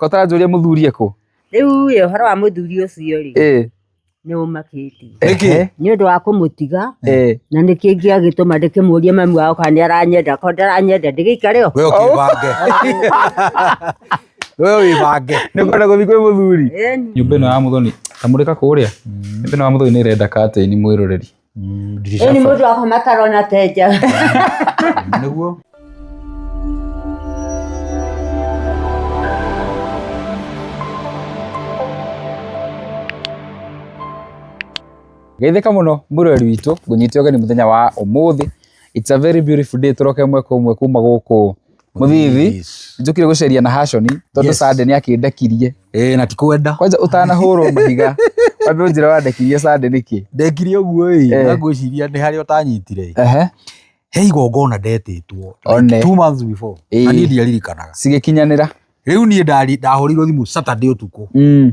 Ko ũtaranjũria mũthuri ekũ? Rĩu ĩ ũhoro wa mũthuri ũcio rĩ Eh, nĩ ũmakĩtie Nĩkĩ? ehe, nĩ ũndũ wa kũmũtiga eh. na nĩ kĩngĩ agĩtũma ndĩkĩmũrie mami wao kana nĩ aranyenda ko ndaranyenda ndĩgĩikare o we ũkĩbange we wĩbange Nĩ kwenda gũthiĩ kwĩ mũthuri. Ĩni. nyũmba ĩno ya mũthoni kamũrĩka kũrĩa nyũmba ĩno ya mũthoni nĩ ĩrenda katĩini mwĩroreri ndirica ni mũndũ akoma tarona tenja nĩguo geithĩka mũno mũrori witũ ngũnyite ũgeni mũthenya wa ũmũthĩ it's a very beautiful day tũroke mweka ũmwe kuma gũkũ Mũthithi. njũkire gũceria na haconi tondũ Yes. sande nĩ akĩndekirie ĩĩ na tikwenda kwanja ũtanahũrwo mahiga wambe ũnjĩra wandekirie sande nĩkĩ ndekire ũguo ĩ Eh. na ngwĩciria nĩ harĩa ũtanyitire Ehe. he igongona ndetĩtwo One. like two months before Ĩĩ. na niĩ ndiaririkanaga cigĩkinyanĩra rĩu niĩ ndari- ndahũrĩirwo thimũ saturday ũtukũ Mm.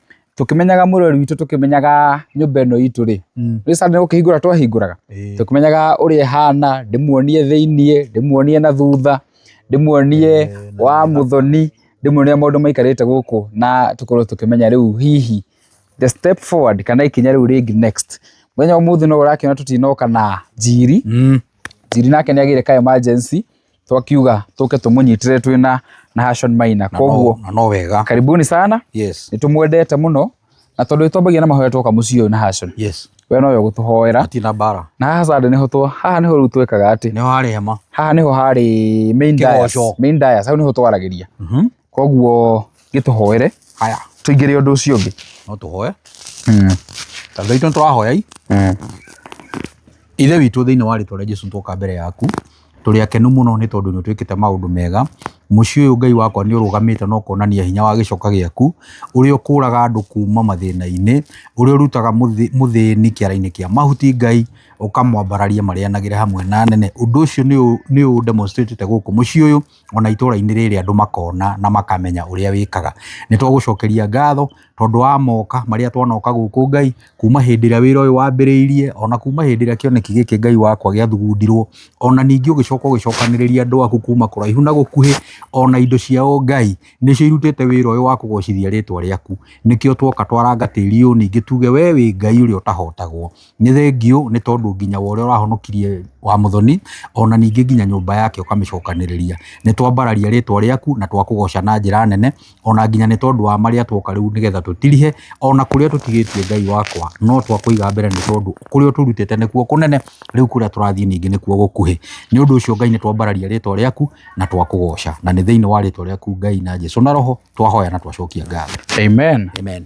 tũkĩmenyaga mũrori witũ tũkĩmenyaga nyũmba ĩno itũ rĩ mm. nĩ sanda nĩ gũkĩhingũra twahingũraga tũkĩmenyaga ũrĩa ĩhana ndĩmuonie thĩiniĩ ndĩmuonie na thutha ndĩmuonie wa mũthoni ndĩmuonie maũndũ maikarĩte gũkũ na tũkorwo tũkĩmenya rĩu hihi the step forward kana ikinya rĩu rĩngĩ next mũthenya ũmũthĩ no ũrakĩona tũtinoka na njiri mm. njiri nake nĩ agĩire ka emergency twakiuga tũke tũmũnyitĩre twĩ na Nahashon Maina Na no- koguo na no wega karibuni sana yes nĩ tũmwendete mũno na tondũ nĩ twambagia na mahoya twoka mũciĩ ũyũ Nahashon yes we nowe gũtũhoera atina mbara na haha sande nĩho twa haha nĩho rĩu twĩkaga atĩ nĩ harĩ hema haha nĩho harĩ main Kĩgoco. dais main dais hau nĩho twaragĩria Mhm. koguo gĩtũhoere haya tũingĩre ũndũ ũcio ũngĩ no tũhoe tondũ aitũ nĩtũrahoya i ithe witũ thĩinĩ wa rĩtwa rĩa jesu twoka mbere yaku tũrĩ akenu mũno nĩ tondũ nĩ ũtwĩkĩte maũndũ mega mũciĩ ũyũ ngai wakwa nĩ ũrũgamĩte na ũkonania hinya wa gĩcoka gĩaku ũrĩa ũkũraga andũ kuma mathĩna-inĩ ũrĩa ũrutaga mũthĩ- mũthĩni kĩara-inĩ kĩa mahuti ngai ũkamwambararia marĩanagĩre hamwe na nene ũndũ ũcio nĩ ũ- nĩ ũ demonstrate-ĩte gũkũ mũciĩ ũyũ ona itũra-inĩ rĩrĩ andũ makona na makamenya ũrĩa wĩkaga. Nĩ twagũcokeria ngatho tondũ wa moka marĩa twanoka gũkũ Ngai, kuma hĩndĩ ĩrĩa wĩra ũyũ wambĩrĩirie, ona kuma hĩndĩ ĩrĩa kĩoneki gĩkĩ Ngai wakwa gĩathugundirwo, ona ningĩ ũgĩcoka ũgĩcokanĩrĩria andũ aku kuma kũraihu na gũkuhĩ, ona indo ciao Ngai, nĩcio irutĩte wĩra ũyũ wa kũgocithia rĩtwa rĩaku. Nĩkĩo twoka twaranga tĩri ũyũ ningĩ tuge we wĩ Ngai ũrĩa ũtahotagwo. nĩ thengiũ nĩ tondũ nginya wa ũrĩa ũrahonokirie wa mũthoni ona ningĩ nginya nyũmba yake ũkamĩcokanĩrĩria nĩ twambararia rĩtwa rĩaku na twakũgoca na njĩra nene ona nginya nĩ tondũ wa marĩa twoka rĩu nĩgetha tũtirihe ona kũrĩa tũtigĩtie ngai wakwa no twakũiga mbere nĩ tondũ kũrĩa ũtũrutĩte nĩkuo kũnene rĩu kũrĩa tũrathiĩ ningĩ nĩkuo gũkuhĩ nĩ ũndũ ũcio ngai nĩ twambararia rĩtwa rĩaku na twakũgoca na nĩ thĩinĩ wa rĩtwa rĩaku ngai na jesu na roho twahoya na twacokia ngatho amen amen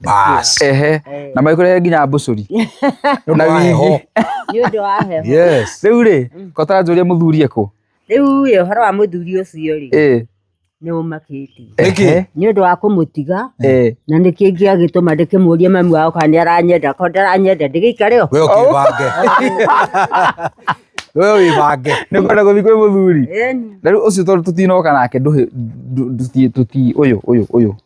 Bas. ehe Eh, na maikurehe nginya mbucuri na Wa heho. wigi nĩ ũndũ wa heho Yes. rĩu rĩ kotara njũrie mũthurie kũ rĩu ĩ ũhoro wa mũthuri ũcio rĩ Eh, nĩ ũmakĩtie Nĩkĩ? ehe, nĩ ũndũ wa kũmũtiga eh. na nĩ kĩngĩ agĩtũma ndĩkĩmũrie mami wao kana nĩ aranyenda ko ndaranyenda ndĩgĩikare o We ũkĩbange. We wĩbange. nä kwenda gå thiä kwä må thuri Eni. na rä u å cio tondå tå tinoka nake ndå å yå å yå å yå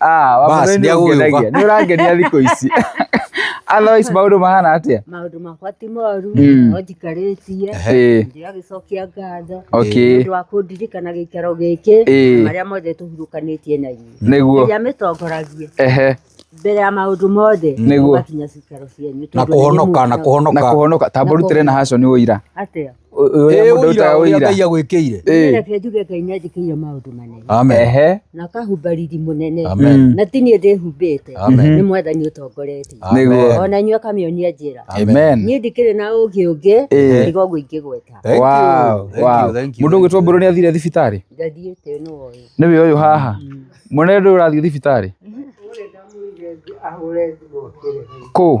Ah, wa Bas, mũthoni nĩ agũgĩũka. ũngenagia. Nĩ ũrangenia thikũ ici. Otherwise maũndũ mahana atĩa? maũndũ makwa ti moru Mm. no njikarĩtie Ĩĩ, ndĩragĩcokia ngatho okay. ũndũ wa kũndirikana gĩikaro gĩkĩ Ĩĩ. na marĩa mothe tũhurũkanĩtie na inyuĩ Nĩguo. ĩrĩa mĩtongoragie Ehe. mbere ya maũndũ mothe Nĩguo. mũgakinya cikaro cianyu na tondũ nĩ kũhonoka na inyuĩ mũka- Na kũhonoka kũhonoka. Tambũrutĩre na haco nĩ ũira. atĩa ũrĩa mũndũ ũrutaga ũira Ngai agwĩkĩire reke njuge Ngai nĩ anjĩkĩire maũndũ manene amen na kahumba riri mũnene na ti niĩ ndĩhumbĩte nĩ mwathani ũtongoretie nĩguo ona inyuĩ akamĩonia njĩra amen niĩ ndikĩrĩ na ũũgĩ ũngĩ tiga ũguo ingĩgweta mũndũ ũgwĩtwo mbũrũ nĩ athire thibitarĩ ndathiĩte nĩ woĩ nĩ wĩ ũyũ haha mwene ndũrathiĩ thibitarĩ kũ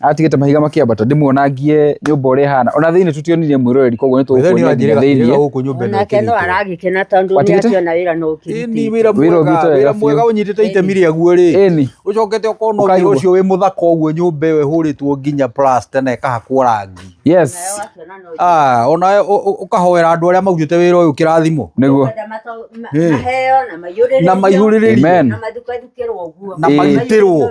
atigĩte mahiga makĩambata ndĩmuonangie nyũmba ũrĩa ĩhana ona thĩinĩ tũtionire mwĩroreri koguo nĩ Wĩra nĩ wanjĩrĩga tũkuonire kĩrĩga gũkũ nyũmba ĩno onake no ĩkĩrĩtwo. aragĩkena tondũ nĩ Watigĩte? akĩona wĩra no Ĩni ũkĩrutĩte wĩra Wĩra mwega, ũgĩte wega wĩra mwega biũ. ũnyitĩte itemi rĩaguo rĩ ĩni ũcokete ũkona ũndũ Ũkaigua. ũcio wĩ mũthaka ũguo nyũmba ĩyo ĩhũrĩtwo nginya plasta na ĩkahakwo rangi yes Ah, ona we ũ- ũ- ũkahoera andũ arĩa marutĩte wĩra ũyũ kĩrathimo nĩguo Eh. maheo na maihũrĩrĩrio Na maihũrĩrĩrio. Amen. na mathukathukĩrwo ũguo Na Ĩĩ. marutĩrwo.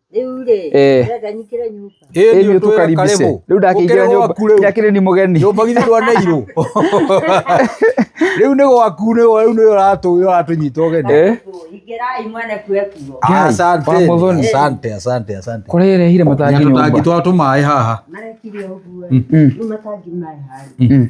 Eh. Ĩni ũtũkaribise rĩu ndakĩingĩra nyũmba yakĩrĩ ni mũgeni nyũmba githĩ ndwaneirwo rĩu nĩ gwaku nĩ rĩu nĩ ũratũnyita ũgeni eh? ah, asante asante asante asante kũrĩa ĩrehire matangi nyũmba tũtangi twa tũmaĩ haha mm. Mm.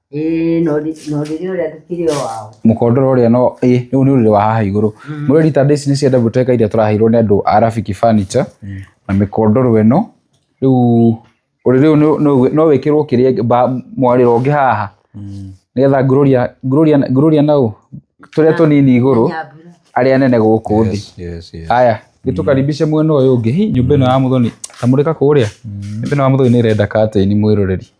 ĩĩ na ũrĩ- na ũrĩrĩ ũrĩa ndũkĩrĩ o wao mũkondoro ũrĩa no ĩ rĩu nĩ ũrĩrĩ wa haha igũrũ mũrĩ rita ndĩci nĩ cia double decker iria tũraheirwo nĩ andũ a Rafiki Furniture na mĩkondoro ĩno rĩu ũrĩrĩ ũyũ nĩ- nĩ- no wĩkĩrwo kĩrĩa mba- mwarĩro ũngĩ haha nĩgetha ngurũria ngurũria ngurũria na ũ tũrĩa tũnini igũrũ nyambura arĩa nene gũkũ thĩ Yes, yes, yes. haya gĩtũkaribishe mwena ũyũ ũngĩ Hi, nyũmba ĩno ya mũthoni tamũrĩka kũrĩa nyũmba ĩno ya mũthoni nĩ ĩrenda katĩini mwĩroreri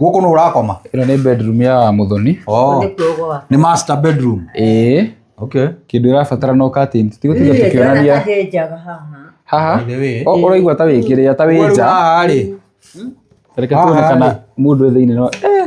gũkũ nũ ũrakoma ĩno nĩ bedroom ya mũthoni oh, nĩ master bedroom ĩĩ okay kĩndũ ĩrabatara no curtains tiga tiga tukionania haha By the way. o ũraigua ta wĩkĩrĩa ta wĩ nja haha rĩ reke tuone Haha-rĩ. kana mũndũ wĩ thĩinĩ no eh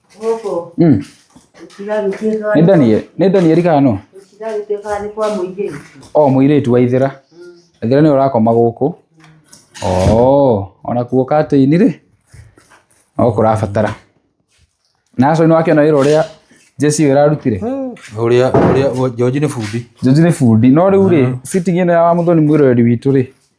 gũkũ mm. nĩ Daniel nĩ Daniel kana no o mũirĩtu wa ithira mm. ithira nĩwe ũrakoma gũkũ o ona kuo katĩini rĩ no kũrabatara na acio nĩ wakĩona wĩra ũrĩa Jesse ĩrarutire hmm. ũrĩa ũrĩa George nĩ bundi George nĩ bundi no rĩu rĩ hmm. sitting ĩno ya wa mũthoni mwĩroreri witũ rĩ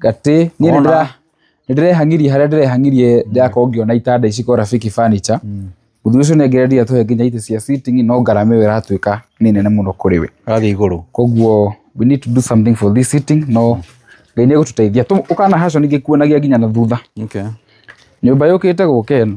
gatĩ niĩ Wona. nĩndĩra- nĩndĩrehangirie harĩa ndĩrehangirie ndĩrakorwo ngĩona itanda ici kwa rafiki furniture mũthuri ũcio nengereria tũhe nginya itĩ cia sitting no ngarama ĩyo ĩratuĩka nĩ nene mũno kũrĩ we rathiĩ igũrũ koguo we need to do something for this sitting no ngai nĩ egũtũteithia Tũ- ũkana haco ningĩ kuonagia nginya na thutha okay. nyũmba yũkĩte gũka ĩno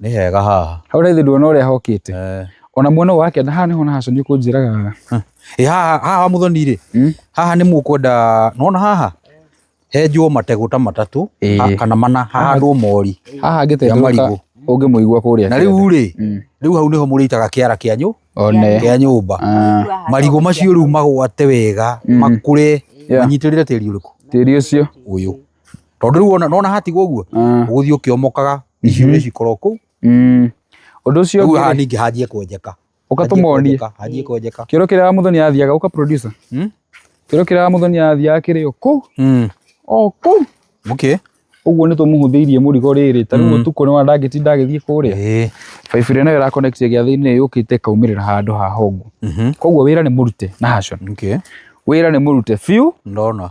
nĩ hega haha hau raithi nduona ũrĩa hokĩte Eh, ona muona ũyũ wake na haha nĩho nahaco nĩ kũnjĩraga ĩ haha haha mũthoni rĩ Mm. haha nĩ mũkwenda nona haha henjwo mategũ ta matatũ Ĩĩ. ha- kana mana hahandwo mori haha Ya ngĩtendũka marigũ. ũngĩmũigua kũrĩa na rĩu rĩ Mm. rĩu hau nĩho mũrĩitaga kĩara kĩa nyũ one kĩa nyũmba Ah, marigũ macio rĩu magwate wega makũre Yeah. manyitĩrĩre tĩri ũrĩkũ tĩri ũcio ũyũ tondå rä u wona nona hatigwo å guo Ah, gå thiä å kä omokaga icio nä cikorwo kå u mm. Ũndũ ũcio rä u haha ningä hanjie kwenjeka ũgatũmonie hanjie kwenjeka kĩoro kĩrĩa mũthoni athiaga ũka producer Hmm? kĩoro kĩrĩa mũthoni athiaga kĩrĩ o kũu Mm. o kũu okay ũguo nĩ tũmũhũthĩirie mũrigo rĩrĩ ta rĩu ũtukũ nĩ wandangĩtinda agĩthiĩ kũrĩa Ĩĩ. baibũ ĩrĩa nayo ĩrakonektia gĩathĩ-inĩ yũkĩte ĩkaumĩrĩra handũ ha hongu Mhm. koguo wĩra nĩ mũrute na hacon okay wĩra nĩ mũrute biũ ndona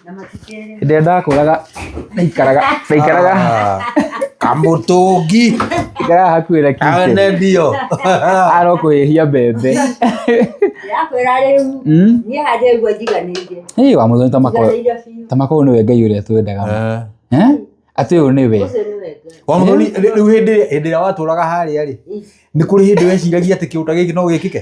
Hĩndĩ ĩrĩa ndakũraga ndaikaraga ndaikaraga kamutungi ndaikaraga hakuhĩ na kite ane ndio aro kũhĩhia mbembe yakwĩra rĩu Mm. niĩ handĩ ũguo njiganĩire Ĩĩ, wa mũthoni tamako njiganĩire biũ tamako ũyũ nĩwe ngai ũrĩa twendaga Eh? atĩ ũyũ nĩwe ũcio nĩ wega wa mũthoni rĩu hĩndĩ ĩrĩa- hĩndĩ ĩrĩa watũraga harĩa rĩ nĩ kũrĩ hĩndĩ weciragia atĩ kĩũta gĩkĩ no gĩkĩke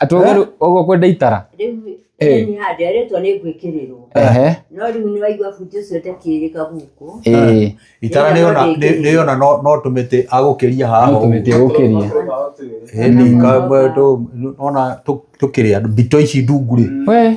Atĩ ũguo rĩu- ũguo kwenda itara. rĩu Eh. nĩ handĩ arĩtwo nĩ ngwĩkĩrĩrwo Ehe. no rĩu nĩ waigua buti ũcio ndakĩrĩka gũkũ Ĩĩ. itara nä ona Nĩgetha nä ona no no tå mä tä agåkäria haha No tũmĩtĩ ũkĩria. ona tå kä rä a mbito ici ndungu rä We.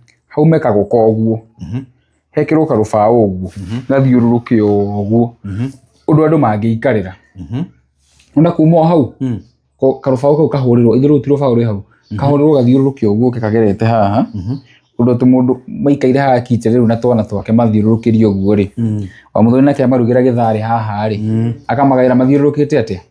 hau mekagwo ka ũguo Mhm. hekĩrwo karũbaũ ũguo Mhm. gathiũrũrũke ũguo Mhm. ũndũ andũ mangĩikarĩra Mhm. ona kuma o hau Mm. ko- karũbaũ kau kahũrĩrwo ithe rũu ti rũbaũ rwĩ hau kahũrĩrwo gathiũrũrũke ũguo ũke kagerete haha Mhm. ũndũ atĩ mũndũ maikaire haha kite rĩu na twana twake mathiũrũrũkĩrie ũguo rĩ Mm. wa mũthoni nake amarugĩra gĩtharĩ haha rĩ Mm. akamagaĩra mathiũrũrũkĩte atĩa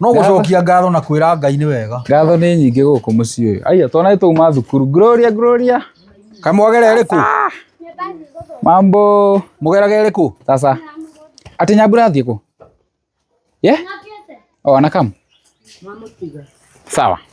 no gũcokia ngatho na kwĩra ngai nĩ wega ngatho nĩ nyingĩ gũkũ mũciĩ ũyũ aiya twana nĩ twauma thukuru gloria gloria kamwagera ĩrĩkũ mambo mũgeraga ĩrĩkũ sasa atĩ nyambura athiĩ kũ ye o anakam sawa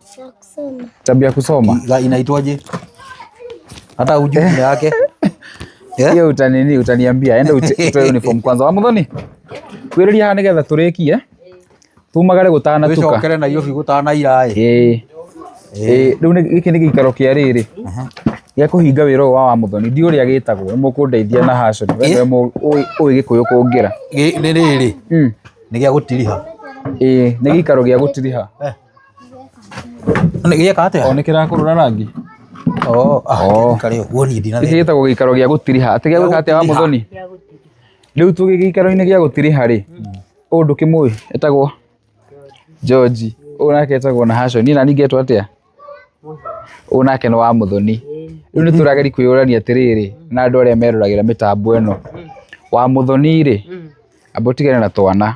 Sio kusoma. Tabia ya kusoma. La, inaitwaje? Hata hujui jina yake. Yeah. Hiyo utanini utaniambia. Enda ute- utoe uniform kwanza. Wa muthoni. Kwiriria haha nigetha turikie. Tumagare gutana tuka. Wĩcokere na irio bigũtana iraĩ. Eh. Eh, riu nĩ- gĩkĩ nĩ gĩikaro kĩa rĩrĩ gĩa kũhinga wĩra ũyũ wa wa mũthoni ndiũ ũrĩa gĩtagwo nĩ mũkũndeithia na haconi we nĩwe mũ- ũĩ ũĩ gĩkũyũ kũngĩra Gĩ- Nĩ rĩrĩ, Mm. nĩ gĩa gũtiriha. Ĩĩ, nĩ gĩikaro gĩa gũtiriha Nĩ gĩa kate. O nĩ kĩrakũrũra rangi. Oh, ah, Oh. kare ũguo niĩ ndina. Gĩkĩ gĩtagwo gĩikaro gĩa gũtiriha. Atĩ gĩa gwĩka atĩa wa mũthoni? Rĩu tũgĩ gĩikaro-inĩ gĩa gũtiriha rĩ, ũyũ ndũkĩmũĩ etagwo George. Ũyũ nake etagwo Nahashon. Niĩ nani ngetwo atĩa? Ũyũ nake nĩ wa mũthoni. Rĩu nĩ tũrageri kwĩyũrania atĩrĩrĩ na andũ arĩa meroragĩra mĩtambo ĩno. Wa mũthoni rĩ, amba ũtigane na twana.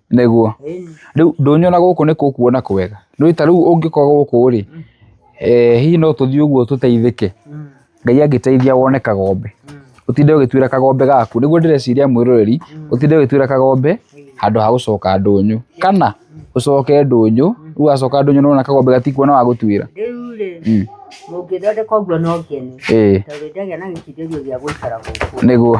nĩguo rĩu ndũnyona gũkũ nĩ kũkuona kwega nĩ ta rĩu ũngĩkorwo gũkũ rĩ eh, hihi no tũthiĩ ũguo tũteithĩke ngai angĩteithia wone kagombe ũtinde ũgĩtuĩra kagombe gaku nĩguo ndĩreciria mwĩroreri ũtinde ũgĩtuĩra kagombe handũ ha gũcoka ndũnyũ kana ũcoke ndũnyũ rĩu wacoka ndũnyũ nĩwona kagombe gatikuona wa gũtuĩra rĩu rĩ Mm. mũngĩthondeka ũguo no ngene ĩĩ tondũ ndagĩa na gĩkindĩrio gĩa gũikara gũkũ nĩguo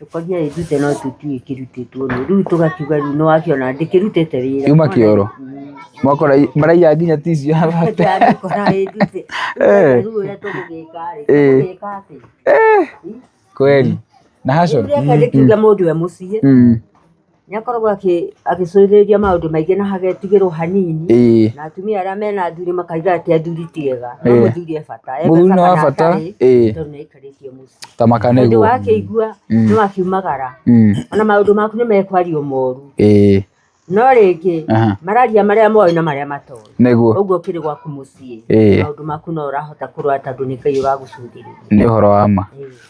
Tũkagĩa ĩtute no tũtiũĩ kĩrutĩtwo nũ, rĩu tũgakiuga rĩu nĩ wakĩona ndĩkĩrutĩte wĩra. Yuma kĩoro. Mwakora maraiya nginya tissue ya mate. Ndĩrakora ĩtute. Eh. Rĩu ũrĩa tũgũgĩka rĩ, Eh. tũgũgĩka atĩ. Kweli. Na haco. Rĩu rĩaka rĩkiuga mũndũ e mũciĩ, Mm. nĩ akoragwo akĩ- agĩcũthĩrĩria maũndũ maingĩ na hagetigĩrwo hanini ĩĩ na atumia arĩa mena athuri makaiga atĩ athuri ti ega no Eh. mũthuri e bata E mũthuri nĩ wa kana bata atarĩ, ĩĩ tondũ nĩ aikarĩtie mũciĩ ta tondũ makanĩgwo wakĩigua Mm. nĩ wakiumagara Mm, ona maũndũ maku nĩ mekwario moru ĩĩ no rĩngĩ aha, mararia marĩa moĩ na marĩa matoĩ nĩguo ũguo kĩrĩ gwaku mũciĩ Eh. maũndũ maku no ũrahota kũrora tondũ nĩ ngai ũragũcũthĩrĩria nĩ ũhoro wa ma Ĩĩ.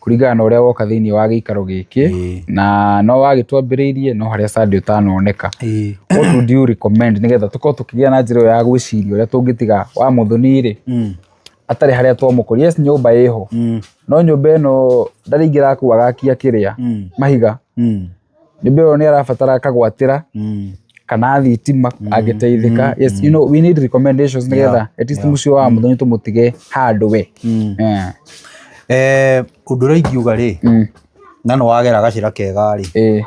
kũringana na ũrĩa woka thĩinĩ wa gĩikaro gĩkĩ Ĩĩ. na no wagĩtwambĩrĩirie no harĩa Sunday ũtanoneka Ĩĩ. what would you recommend nĩgetha tũkorwo tũkĩgĩa na njĩra ĩyo ya gwĩciria ũrĩa tũngĩtiga wa mũthoni-rĩ Mm. atarĩ harĩa twamũkũria yes nyũmba ĩho Mm. no nyũmba ĩno ndarĩ ingĩrakuaga akia kĩrĩa Mm. mahiga Mm. nĩ ndĩrona nĩ arabatara kagwatĩra Mm. kana thitima angĩteithĩka yes you know we need recommendations nĩgetha at least mũciĩ wa mũthoni tũmũtige handũ we Mm. Eh, Eh, ũndũ ũrĩa ingiuga rĩ mm, na nĩ wagera gacĩra kega rĩ eh,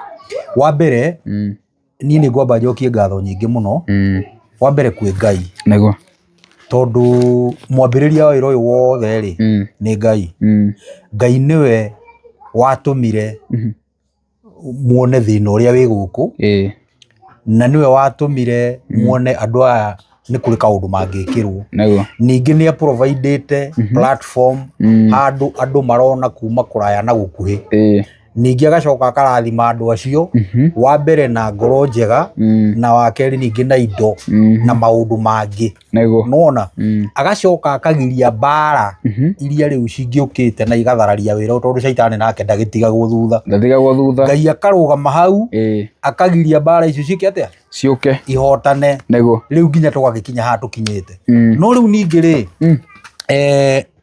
wa mbere mm, niĩ nĩ ngwamba njokie ngatho nyingĩ mũno mm. wa mbere kwĩ ngai nĩguo tondũ mwambĩrĩria wa wĩra ũyũ wothe rĩ Mm, nĩ ngai mm, ngai nĩwe watũmire mhm, muone thĩna ũrĩa wĩ gũkũ ĩĩ na nĩwe watũmire muone andũ aya nĩ kũrĩ kaũndũ mangĩkĩrwo nĩguo ningĩ nĩ aprovaidĩte platform Mm. handũ andũ marona kuma kũraya na gũkuhĩ ĩĩ ningĩ agacoka akarathima andũ acio Mhm. wa mbere na ngoro njega Mm. na wa kerĩ ningĩ na indo Mhm. na maũndũ mangĩ Nĩguo. nona Mm. agacoka akagiria mbara Mhm. iria rĩu cingĩũkĩte na igathararia wĩra tondå caitani nake ndagĩtigagwo thutha Ndathigagwo thutha. ngai akarũgama hau Ĩĩ. akagiria mbara icio cikä atä Ciũke. ihotane Nĩguo. rä u nginya tågagä kinya haha tå kinyä te Mm. no rä u ningä rä Mm. eh,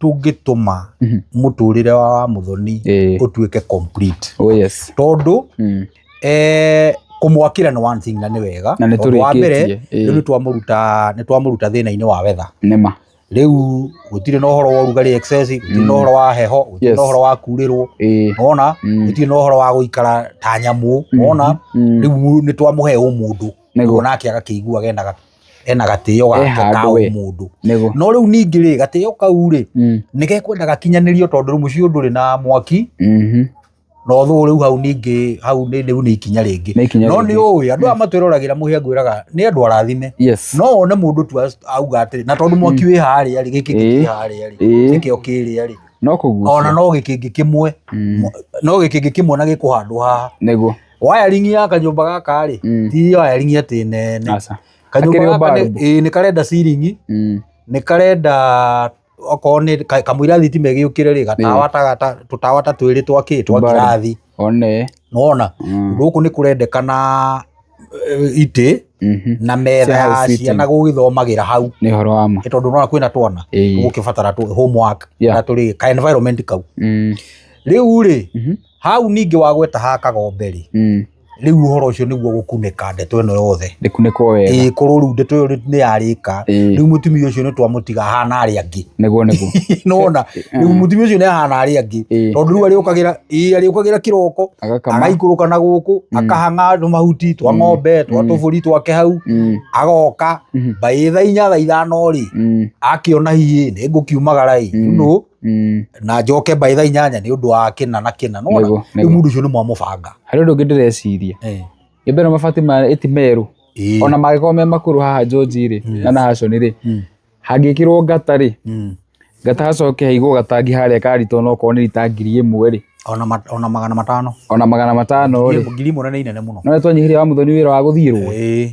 tũngĩtũma Mhm. mũtũrĩre wa wa mũthoni Eh, ũtuĩke complete oh yes. tondũ Mm. eh, kũmwakĩra nĩ one thing na nĩ wega Na nĩ Tondũ wa mbere tũrĩkĩtie. rĩu Eh, nĩ twamũruta nĩ twamũruta thĩna-inĩ wa wetha Nema. rĩu gũtirĩ na ũhoro wa ũrugarĩ excess gũtirĩ na Mm. ũhoro wa heho gũtirĩ Yes. na ũhoro wa kurĩrwo Eh, wona mm. gũtirĩ na ũhoro wa gũikara ta nyamũ wona Mhm. Mm. rĩu nĩ twamũhe ũmũndũ Nĩguo. nake agakĩigua genaga ena gatĩo gake ka handũ we. ũmũndũ nĩguo no rĩu ningĩ rĩ gatĩo kau rĩ Mm, nĩgekwenda gakinyanĩrio tondũ rĩu mũciĩ ndũrĩ na mwaki mhm. na ũthũ rĩu hau ningĩ hau nĩ rĩu nĩ ikinya rĩngĩ Nĩ ikinya no rĩngĩ. nĩ ũĩ andũ aya matwĩroragĩra mũhĩa ngwĩraga nĩ andũ arathime yes no one mũndũ tu as- auga atĩrĩ na tondũ mwaki wĩ harĩa rĩ gĩkĩ Ĩĩ. kĩ harĩa rĩ Ĩĩ. gĩkĩo kĩrĩa rĩ no ona kũgucia no gĩkĩngĩ kĩmwe Mm. no gĩkĩngĩ kĩmwe na gĩkũhandwo haha nĩguo wiring ya kanyũmba gaka rĩ Mm. ti wiring atĩ nene Aca. kanyũmba Gakĩrĩ o gaka nĩ- bulb. ĩĩ, nĩ karenda ciringi Mm. nĩ karenda okorwo nĩ ka- kamũira thitima ĩgĩũkĩre rĩ gatawa ta gata- tũtawa ta twĩrĩ twa kĩ twa Bulb. ngirathi One. nona Mm. gũkũ nĩ kũrendekana eh, itĩ Mhm. na metha Cia ya house sitting. ciana gũgĩthomagĩra hau Nĩ ũhoro wa ma. Nĩ tondũ nona kwĩna twana Ĩĩ. gũkĩbatara tũ- homework Yeah. na tũrĩ ka environment kau Mm. rĩu rĩ Mhm. hau ningĩ wagweta ha kagombe-rĩ Mm. rĩu ũhoro ũcio nĩguo gũkunĩka ndeto ĩno yothe Ndĩkunĩkwo wega. ĩĩ korwo rĩu ndeto ĩyo nĩ yarĩka Ĩĩ. rĩu mũtumia ũcio nĩ twamũtiga ahana arĩa angĩ Nĩguo nĩguo. nona rĩu mũtumia ũcio nĩ ahana arĩa angĩ Ĩĩ. tondũ rĩu arĩũkagĩra ĩĩ arĩũkagĩra kĩroko Agakama. agaikũrũka na gũkũ akahang'a mahuti twa ng'ombe twa tũbũri twake hau Mm. agoka Mhm. mbaĩ tha inya tha ithano-rĩ Mm. akĩona hiĩ nĩ ngũkiumagara-ĩ you know, Mm, na njoke by thaa inyanya nĩ ũndũ wa kĩna na kĩna nĩguo, nona rĩu nĩguo. mũndũ ũcio nĩ mwamũbanga harĩ ũndũ ũngĩ ndĩreciria Eh, gä mbere mabati ma ä ti merå ĩĩ. ona mangĩkorwo me makũrũ haha njonji rĩ Yes. na nahaconi rĩ Mm, hangä kä rwo ngata rĩ mm. ngata hacoke haigwo gatangi harä a karito ona okorwo nä rita ngiri ä mwe rä Ona ma- ona magana matano ona magana matano rä ngiri ĩmwe nĩ inene mũno no nä twanyihä ria wa må thoni wä ra wa gå thiä rwo Ĩĩ.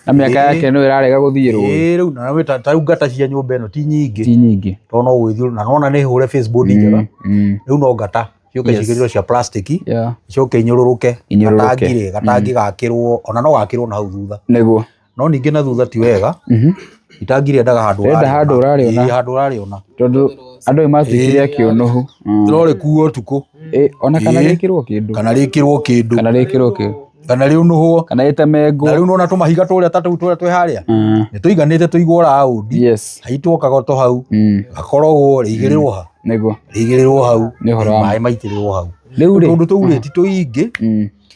na mĩaka Ĩĩ. yake no ĩrarega gũthiĩ rũĩ ĩĩ rĩu na wĩ ta ta rĩu ngata cia nyũmba ĩno ti nyingĩ ti nyingĩ tondũ no gwĩthiũrũra na nona nĩ hũre facebook ni njega Mm, rĩu no ngata ciũke Yes. cigĩrĩrwo cia plastic yeah. icoke inyũrũrũke Inyũrũrũke. gatangi rĩ gatangi gakĩrwo ona no gakĩrwo na hau thutha nĩguo no ningĩ na thutha ti wega Mhm. itangi rĩendaga handũ Rĩenda ũrarĩona. handũ ũrarĩona. Ĩĩ, handũ ũrarĩona tondũ andũ nĩ matuĩkire Ĩĩ. kĩũnũhu Mm. no rĩkuo ũtukũ Ĩĩ, ona kana Ĩĩ. rĩkĩrwo kĩndũ kana rĩkĩrwo kĩndũ kana rĩkĩrwo kĩndũ kana rĩũnũhwo kana na rĩtemengwo rĩu nona tũmahiga tũrĩa ta tũu tũrĩa twĩ harĩa Mm. nĩ tũiganĩte tũigwo raundi yes haitwo kagoto hau Mm. gakorogwo rĩigĩrĩrwo ha nĩguo rĩigĩrĩrwo hau Nĩ ũhoro wa ma. maĩ maitĩrĩrwo hau Rĩu rĩ- tũndũ tũu rĩ ti tũingĩ Mm.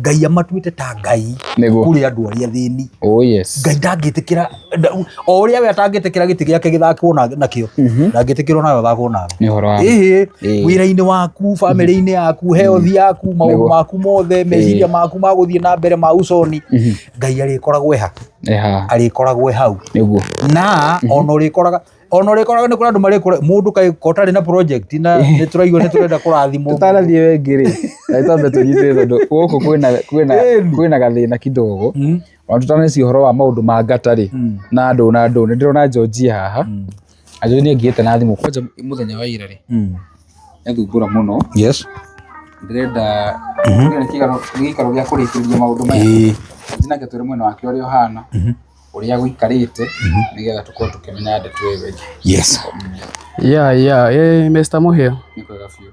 ngai amatuĩte ta ngai Nĩguo. kũrĩ andũ arĩa thĩni Oh yes. ngai ndangĩtĩkĩra nda- o ũrĩa we atangĩtĩkĩra gĩtĩ gĩake gĩthakwo na- nakĩo ndangĩtĩkĩrwo nawe thakwo nawe Nĩ ũhoro wa. ĩhĩ Ĩĩ. wĩra-inĩ waku bamĩrĩ-inĩ yaku heothi yaku maũndũ Nĩguo. maku mothe meciria maku ma gũthiĩ na mbere ma uconi ngai arĩkoragwo eha Eha. arĩkoragwo e hau Nĩguo. na ona ũrĩkoraga ona å rä koraga nä kå rä andå marä kå må ndå kaä kotarä na project na nä tå raigua nä tå renda kå rathimwo tũtanathiĩ wengĩ rĩ nĩ twambe tũnyitĩre tondũ gũkũ kwĩna- kwĩna- Ĩni. kwĩna gathĩna kidogo Mm. ona tũtaneci ũhoro wa maũndũ ma ngata rĩ Mm. na ndũ na ndũ nĩ ndĩrona njonjia haha na njonjia nĩ angĩĩte na thimũ kwanja mũthenya wa ira rĩ Mm. nĩathumbũra mũno yes ndĩrenda nĩ gĩikaro gĩa kũrĩkĩrĩria maũndå maya Ĩĩ. nake twĩre mwena wake ũrĩa ũhana ũrĩa gũikarĩte nĩgetha tũkorwo tũkĩmenya ndeto ĩyo ĩngĩ yes ya ya eh, Mr. Mũhĩa nĩ kwega biũ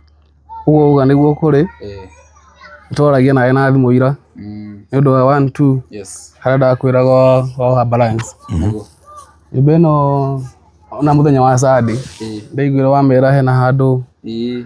ũguo uga nĩguo kũrĩ eh, twaragia nawe na thimũ ira mm, nĩ ũndũ wa one two yes harĩa ndakwĩraga wa- waoha balance nĩguo nyũmba ĩno ona mũthenya wa sande eh, ndaiguire wamera hena handũ eh,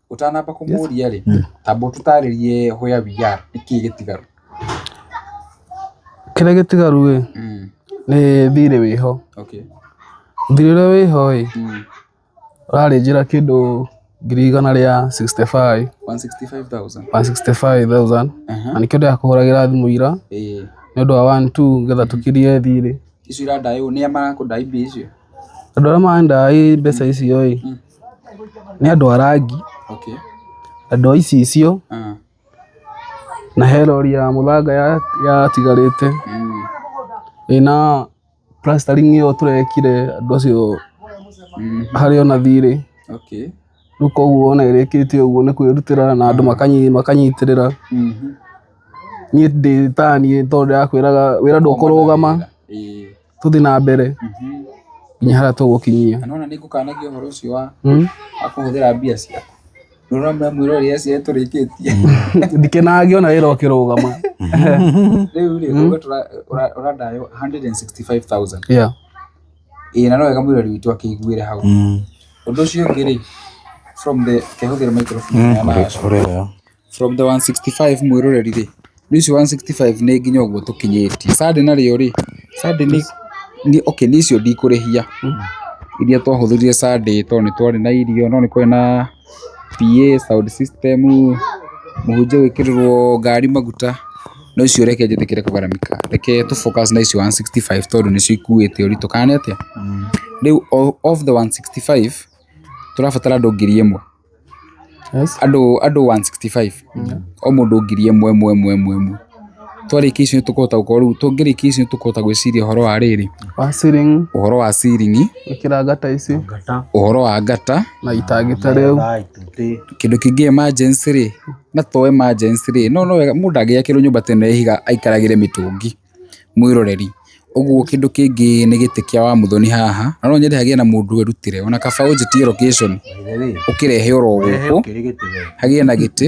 Ũtanamba kũmũria rĩ, hmm. tamba ũtũtarĩrie where we are, nĩkĩ gĩtigaru? Kĩrĩa gĩtigaru ĩ, hmm. nĩ thirĩ wĩho. Okay. Thirĩ ũrĩa wĩho ĩ, hmm. ũrarĩ njĩra kĩndũ ngiri igana rĩa 65 165,000 165,000 na nĩkĩo ndĩrakũhũragĩra thimũ ira nĩ ũndũ wa 1 2 getha tũkirie thirĩ icio irandaywo nĩ amarakũndai mbia icio andå arä a maendaga mbeca icio ä Nĩ andũ a rangi, andũ a icicio, na he rori ya mũthanga yatigarĩte ĩna plastering ĩyo tũrekire andũ acio harĩa ona thirĩ. Rĩu koguo ona ĩrĩkĩtie ũguo nĩ kwĩrutĩra na andũ makanyitĩrĩra. Niĩ ndĩ ta niĩ tondũ ndĩrakwĩraga wĩra ndũkũrũgama. tũthiĩ na mbere Mhm. nginya harĩa tũgũkinyia Na nona nĩngũkanagia ũhoro ũcio wa Mm. wa kũhũthĩra mbia ciaku nona mwĩra ũrĩa ciae tũrĩkĩtie ndikenage ona wĩra ũkĩrũgama rĩu rĩ uga tũra- ũra- ũrandayo 165000 Yeah. ĩĩ na no wega mwĩrori witũ akĩiguĩre hau Mm. ũndũ ũcio ũngĩ rĩ from the kehũthĩra microphone ya nayo. Ũrĩa From the 165 mwĩroreri rĩ, rĩu ici 165 nĩ nginya ũguo tũkinyĩtie. Sunday narĩo rĩ, Sunday nĩ, nĩ okay nĩ icio ndikũrĩhia. Iria twahũthĩrire Sunday tondũ nĩ twarĩ na irio, no nĩ kwarĩ na PA, sound system, mũhunjia gwĩkĩrĩrwo ngari maguta, no icio reke njĩtĩkĩre kũgaramika. Reke tũ focus na icio 165 tondũ nĩcio ikuĩte ũritũ, kana nĩ atĩa? Rĩu o- of the 165, tũrabatara andũ ngiri ĩmwe. andũ andũ 165 o mũndũ ngiri ĩmwe ĩmwe ĩmwe ĩmwe ĩmwe twarĩkia icio nĩtũkũhota gũkorwo rĩu tũngĩrĩkia icio nĩtũkũhota gwĩciria ũhoro wa rĩrĩ wa ceiling ũhoro wa ciringi ĩkĩra ngata ici ũhoro wa ngata na itangĩta rĩu kĩndũ kĩngĩ emergency rĩ na to emergency rĩ no no wega mũndũ ndangĩakĩrwo nyũmba tene ya ihiga aikaragĩre mĩtũngi. mwĩroreri. Ũguo kĩndũ kĩngĩ nĩ gĩtĩ kĩa wa Muthoni haha, na no nyende hagĩe na mũndũ wĩrutĩre ona kaba ũnjĩtie location ũkĩrehe oro gũkũ, hagĩe na gĩtĩ,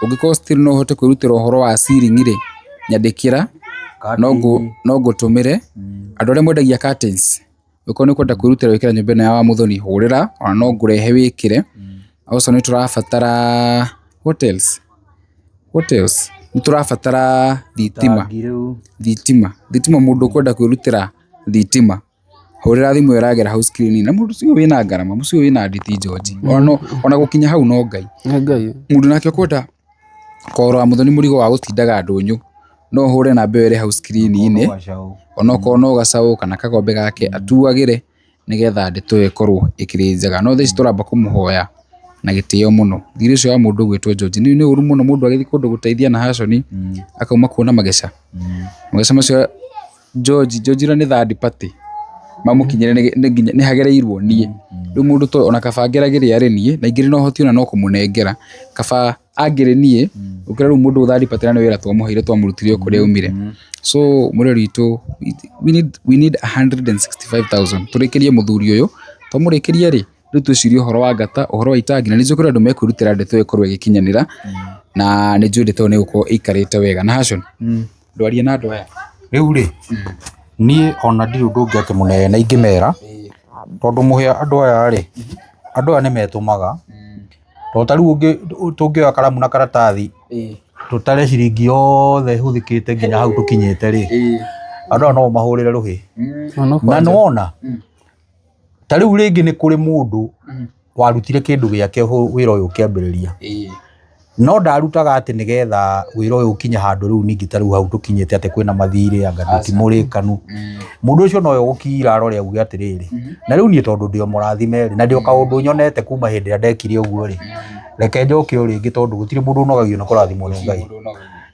ũngĩkorwo still no ũhote kwĩrutĩra ũhoro wa ceiling rĩ, nyandĩkĩra no ngũtũmĩre. Andũ arĩa mwendagia curtains. Ũkorwo nĩ ũkwenda kwĩrutĩra wĩkĩra nyũmba ĩno ya wa mũthoni hũrĩra ona no ngũrehe wĩkĩre. Also nĩ tũrabatara what else? What else? Nĩ tũrabatara thitima. Tangi rĩu. Thitima. Thitima mũndũ ũkwenda kwĩrutĩra thitima. Hũrĩra thimũ ĩyo ĩragera hau screen-inĩ. Na mũndũ ũcio wĩna ngarama, mũciĩ ũyũ wĩna nditi George. Ona no, ona gũkinya hau no Ngai. Nĩ Ngai. Mũndũ nake ũkwenda Kũrora mũndũ nĩ mũrigo wa gũtindaga ndũnyũ, no ũhũre namba ĩyo ĩrĩ hau screen-inĩ, onokorwo no gacaũ kana kagombe gake atuagĩre nĩgetha ndeto ĩyo ĩkorwo ĩkĩrĩ njega. No thaa ici tũramba kũmũhoya na gĩtĩo mũno. Thigirĩ ũcio wa mũndũ ũgwĩtwo George, nĩ ũĩ nĩ ũru mũno mũndũ agĩthiĩ kũndũ gũteithia na haconi akauma kuo na mageca, mageca macio... George, George ũrĩa nĩ third party mamũkinyĩre nĩ- nĩ nginya- nĩ hagereirwo niĩ rĩu mũndũ to ona kaba ngeragĩre arĩ niĩ na ingĩ no hoti ona no kũmũnengera kaba angĩrĩ niĩ ũkĩra rĩu mũndũ third party na nĩ wĩra twamũheire twamũrutire o kũrĩa aumire so mũreri witũ we need, we need 165,000 tũrĩkĩrie mũthuri ũyũ twamũrĩkĩria rĩ rĩu twĩcirie ũhoro wa ngata ũhoro wa itangi na nĩ njũkĩra andũ mekwĩrutĩra ndeto ĩyo ĩkorwo ĩgĩkinyanĩra na nĩ njũĩ ndeto ĩyo nĩ gũkorwo ĩikarĩte wega na hacon ndwarie na andũ aya rĩu rĩ niĩ ona ndirĩ ũndũ ũngĩ atĩ mũnene na ingĩmera tondũ mũhĩa andũ aya rĩ andũ aya nĩ metũmaga tondũ ta rĩu ũngĩ- tũngĩoya karamu na karatathi tũtare ciringi yothe hũthĩkĩte nginya hau tũkinyĩte rĩ andũ aya no ũmahũrĩre rũhĩ na nĩwona ta rĩu rĩngĩ nĩ kũrĩ mũndũ Mhm. warutire kĩndũ gĩake hũ- wĩra ũyũ ũkĩambĩrĩria Ĩĩ. no ndarutaga atĩ nĩgetha wĩra ũyũ ũkinye handũ rĩu ningĩ ta rĩu hau tũkinyĩte atĩ kwĩna mathirĩ anga Aca. tũtimũrĩkanu Mm. mũndũ ũcio noyo gũkira arore auge atĩrĩrĩ Mhm. na rĩu niĩ tondũ ndĩo mũrathime rĩ na ndĩo kaũndũ nyonete kuma hĩndĩ ĩrĩa ndekire ũguo rĩ Mm. reke njoke o rĩngĩ tondũ gũtirĩ mũndũ ũnogagio nĩ kũrathimwo nĩ ngai Mũndũ ũnogagio.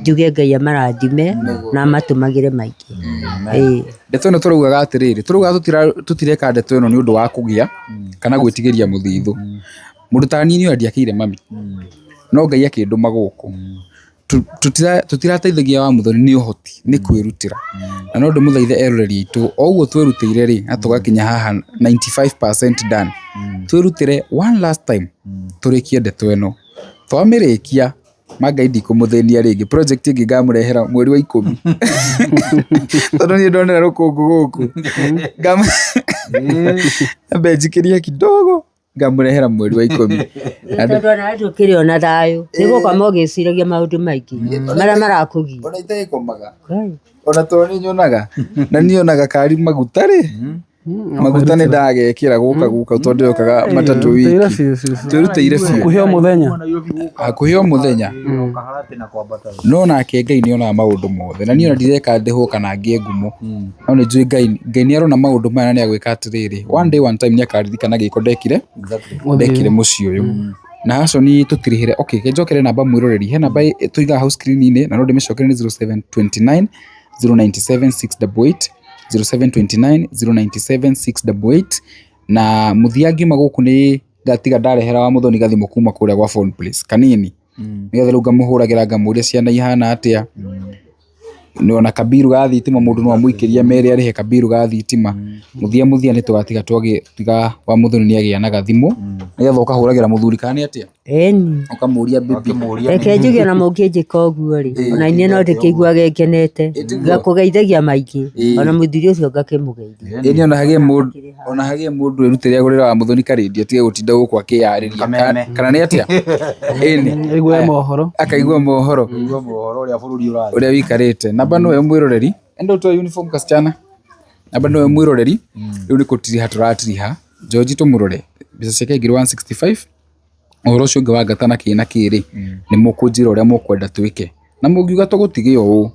njuge Ngai amarathime na amatũmagĩre maingĩ ĩĩ ndeto ĩno tũraugaga atĩrĩrĩ tũraugaga tũtira- tũtireka ndeto ĩno nĩ ũndũ wa kũgĩa kana gwĩtigĩria mũthithũ mũndũ ta niĩ nĩwe ndiakĩire mami no ngai akĩndũma gũkũ Tu- tũtira- tũtirateithagia wa mũthoni nĩ ũhoti nĩ kwĩrutĩra na no ndĩmũthaithe eroreri aitũ o ũguo twĩrutĩire rĩ na tũgakinya haha 95% done twĩrutĩre one last time tũrĩkie ndeto ĩno twamĩrĩkia ma ngai ndikũmũthĩnia rĩngĩ project ĩngĩ ngamũrehera mweri wa ikũmi tondũ niĩ ndonera rũkũngũ gũkũ Ngam- ambe njikĩrie kidogo ngamũrehera mweri wa ikũmi Nĩ tondũ ona hati ũkĩrĩ ona thayũ nĩ gũkoma ũgĩciragia maũndũ maingĩ marĩa marakũgia ona itagĩkomaga Ngai. ona tondũ nĩ nyonaga na nĩ nyonaga kari maguta rĩ maguta nĩ ndagekĩra gũka gũka tondũ yokaga matatũ wiki twĩrutĩire biũ kuheo mũthenya hakuhĩ o mũthenya no nake ngai nĩ onaga maũndũ mothe na niĩ ona ndireka ndĩhwo kana ngĩe ngumo no nĩ njũĩ ngai ngai nĩ arona maũndũ maya na nĩ agwĩka atĩrĩrĩ one day one time nĩ akaririkana gĩko ndekire ndekire mũciĩ ũyũ na haconi tũtirĩhĩre okay ke njokere namba mwĩroreri he namba ĩ- tũigaga hau screen-inĩ na no ndĩmĩcokere nĩ 0729 097 688 0729 097 688 na muthia ngiuma guku ni ngatiga ndarehera wa muthoni gathimu kuma kuria gwa phone place kanini Mm. nigetha riu ngamuhuragira ngamuria ciana ihana atia ni ona kabiru ga thitima mundu no amuikiria mere arihe kabiru ga thitima muthia muthia ni tugatiga twagi tiga wa muthoni ni agia na gathimu nigetha ukahuragira muthuri kana ni atia Eni. Ũkamũria baby. Reke njuge ona mũngĩnjĩka ũguo rĩ, ona niĩ no ndĩkĩiguage ngenete, ngakũgeithagia maingĩ, ona mũthuri ũcio ngakĩmũgeithia. Eni ona hagĩe mũndũ ona hagĩe mũndũ erutĩre agũrĩre wa mũthoni ka radio atige gũtinda gũkũ akĩyarĩria. Kameme. Ka- Kana nĩ atĩa? Eni. Aigue mohoro. Akaigua mohoro. Kũigua mohoro ũrĩa bũrũri ũrathiĩ. ũrĩa wĩikarĩte namba nĩwe mwĩroreri enda ũtoe uniform kasichana namba nĩwe mwĩroreri rĩu nĩ kũtiriha tũratiriha njoji tũmũrore mbeca ciake ngiri 165 ũhoro ũcio ũngĩ wa ngata na kĩna kĩrĩ, nĩ mũkũnjĩra ũrĩa mũkwenda twĩke. Na mũngiuga tũgũtige ũũ,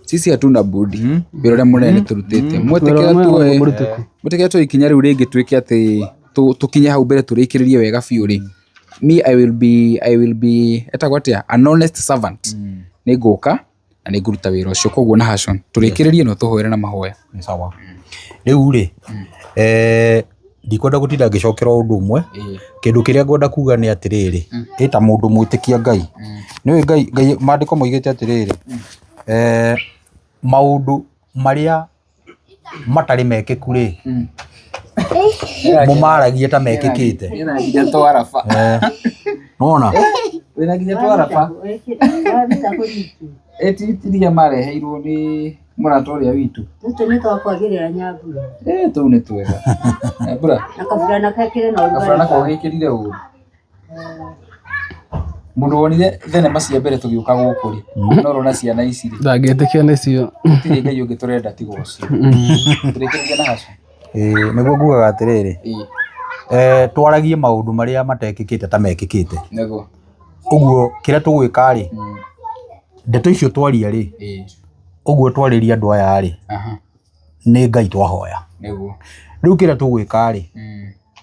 sisi hatuna budi, wĩra ũrĩa mũnene nĩtũrutĩte. Mwetĩkĩra tuoe, mwetĩkĩra tuoe ikinya rĩu rĩngĩ twĩke atĩ, tũ- tũkinye hau mbere tũrĩkĩrĩrie wega biũ-rĩ, me I will be, I will be, etagwo atĩa? An honest servant. Nĩngũka, na nĩ ngũruta wĩra ũcio koguo Nahashon tũrĩkĩrĩrie no tũhoere na mahoya Nĩ sawa rĩu rĩ eh, ndikwenda gũtinda ngĩcokera ũndũ ũmwe Ĩĩ. kĩndũ kĩrĩa ngwenda kuga nĩ atĩrĩrĩ ĩ ta mũndũ mwĩtĩkia ngai nĩũĩ ngai ngai maandĩko moigĩte atĩrĩrĩ eh, maũndũ marĩa matarĩ mekĩku rĩ mũmaragie ta mekĩkĩte Wĩna nginya twaraba. Eh, nĩwona Wĩna nginya twaraba. Ĩtitiria mareheirwo nĩ mũrata ũrĩa witũ. tũtũ nĩ twakwagĩrĩra nyambura Eh, tũu nĩ twega. Nyambura, na kabura na kekĩre na kabura ũrugarĩ nako gĩkĩrire ũru. Mũndũ wonire thenema cia mbere tũgĩũka gũkũ rĩ, no ũrona ciana ici rĩ, ndangĩtĩkia nĩcio gũtirĩ Ngai ũngĩ tũrenda tiga ũcio. Tũrĩkĩrĩria na hacu. Ĩĩ, nĩguo ngugaga atĩrĩrĩ Ĩĩ, eh, twaragie maũndũ marĩa matekĩkĩte ta mekĩkĩte nĩguo. ũguo kĩrĩa tũgwĩka rĩ Mm, ndeto icio twaria rĩ ĩĩ, ũguo twarĩria andũ aya rĩ aha, nĩ ngai twahoya nĩguo. rĩu kĩrĩa tũgwĩka rĩ Mm,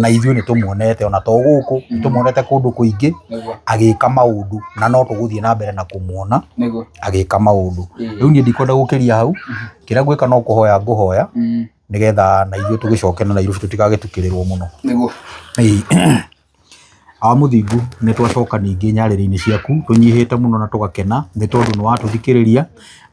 na ithuĩ nĩ tũmuonete ona to gũkũ nĩ tũmuonete kũndũ kũingĩ agĩka maũndũ na no tũgũthiĩ na mbere na kũmuona agĩka maũndũ rĩu niĩ ndikwenda gũkĩria hau kĩrĩa ngwĩka no kũhoya ngũhoya nĩgetha na ithuĩ tũgĩcoke na Nairobi tũtigagĩtukĩrĩrwo mũno Ĩĩ. wa mũthingu nĩ twacoka ningĩ nyarĩrĩ-inĩ ciaku tũnyihĩte mũno na tũgakena nĩ tondũ nĩ watũthikĩrĩria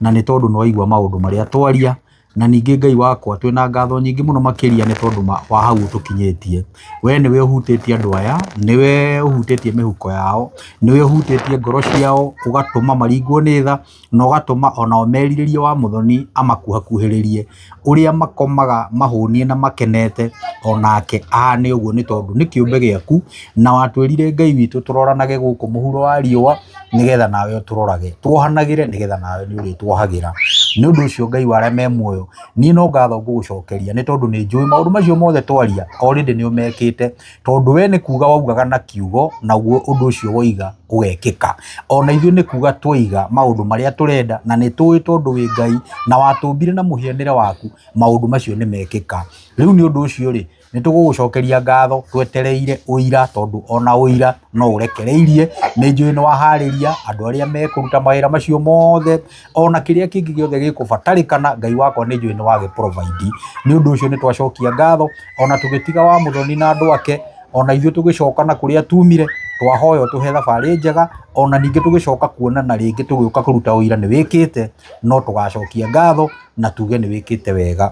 na nĩ tondũ nĩ waigua maũndũ marĩa twaria Na ningĩ Ngai wakwa, twĩ na ngatho nyingĩ mũno makĩria nĩ tondũ ma- wa hau ũtũkinyĩtie. Wee nĩwe ũhutĩtie andũ aya, nĩwe ũhutĩtie mĩhuko yao, nĩwe ũhutĩtie ngoro ciao, ũgatũma maringwo nĩ tha, na ũgatũma onao merirĩrie wa mũthoni amakuhakuhĩrĩrie. Ũrĩa makomaga mahũnie na makenete, onake ahane ũguo nĩ tondũ nĩ kĩũmbe gĩaku, na watwĩrire Ngai witũ tũroranage gũkũ mũhuro wa riũa nĩgetha nawe ũtũrorage, tuohanagĩre nĩgetha nawe nĩ ũrĩtuohagĩra. Nĩ ũndũ ũcio Ngai wa arĩa me muoyo, niĩ no ngatho ngũgũcokeria nĩ tondũ nĩ njũĩ maũndũ macio mothe twaria already nĩ ũmekĩte, tondũ we nĩ kuuga waugaga na kiugo naguo ũndũ ũcio woiga ũgekĩka. O na ithuĩ nĩ kuuga twaiga maũndũ marĩa tũrenda na nĩ tũĩ tondũ wĩ Ngai na watũmbire na mũhianĩre waku maũndũ macio nĩ mekĩka. Rĩu nĩ ũndũ ũcio rĩ, nĩ tũgũgũcokeria ngatho twetereire ũira tondũ ona ũira no ũrekereirie nĩ njũĩ nĩ waharĩria andũ arĩa mekũruta mawĩra macio mothe ona kĩrĩa kĩngĩ gĩothe gĩkũbatarĩkana ngai wakwa nĩ njũĩ nĩ wagĩ provide nĩ ũndũ ũcio nĩ twacokia ngatho ona tũgĩtiga wa mũthoni na andũ ake ona ithuĩ tũgĩcoka na kũrĩa tumire twahoya ũtũhe thabarĩ njega ona ningĩ tũgĩcoka kuonana rĩngĩ tũgĩũka kũruta ũira nĩ wĩkĩte no tũgacokia ngatho na tuge nĩ wĩkĩte wega